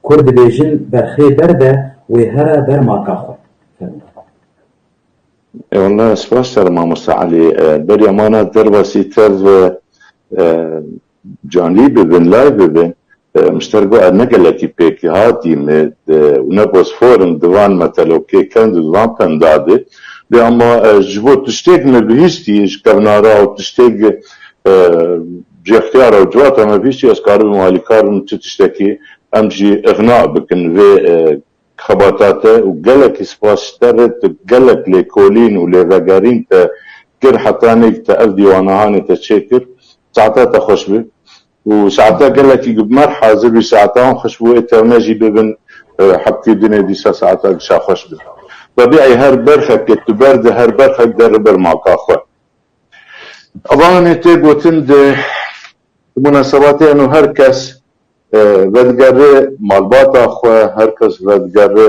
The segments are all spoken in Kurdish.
Kurd dibêjin berxê ber be wê here ber maka xwe. Fermû. Ewallah spas te li mamosta Elî. Beriya mana derbasî tev canlî bibin, live bibin. Muşter got ez ne gelekî pêk hatî me û ne bosfor im di van metelokê kend û di van pemda de. Lê ama ji bo tiştêk me bihîstî ji kevnara û tiştêk Cixtiyara û civata me bîstî ez karibim alîkar bim li tu tiştekî, em jî ixna bikin vê xebata te û gelekî spas ji te re tu gelek lêkolîn û lêvegerîn te kir heta nêk te ev dîwanahanê te çêkir. Saeta te xweş be û saeta gelekî ku bi merh hazir bî saeta wan xweş bû ê tevne jî bibin hebkê dinê dîsa saeta giş a xweş be. Tabî ey her berxek ke tu berdê her berxek der li ber maka xwe. Avanê tê gotin di munasebatê eno her kes vedigere malbata xwe, her kes vedigere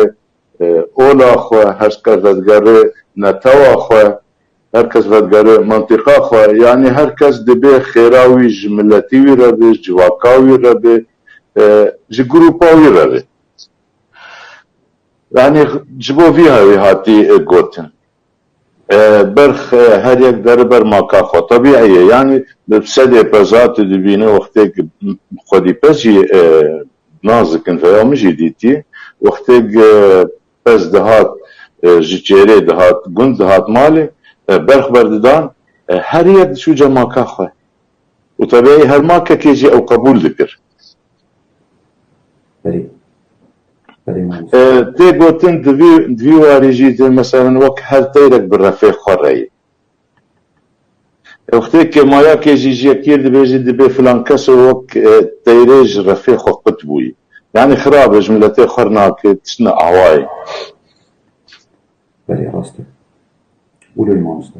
ola xwe, her kes vedigere netewa xwe, her kes vedigere mentiqa xwe, yanî her kes dibê xêra wî ji miletî wî re bê, civaka wî re bê, ji grûpa wî re bê. Yanî ji bo vî hewî hatî gotin. Berx her yek dere ber maka xwe. Tebîî ye. Yanî sedê peza tu dibînî wextêk xwedî pez jî nas dikin vêya min jî dîtî wextêk pez dihat ji çêrê dihat gund dihat malê berx berdidan her yek diçû cemaka xwe. Û teveyî her makekê jî ew qebûl dikir. Tê gotin di vî warî jî tu meselen wek her teyrek bi refê xwe re yî. Wextê ke mayakê jî ji yekî dibêjî dibê filan keso wek teyrê ji refê xwe qut bûyî. Yanî xirab e, ji miletê xwe re nake, tiştine awayê. Belê rast e. Wilo ye mamoste.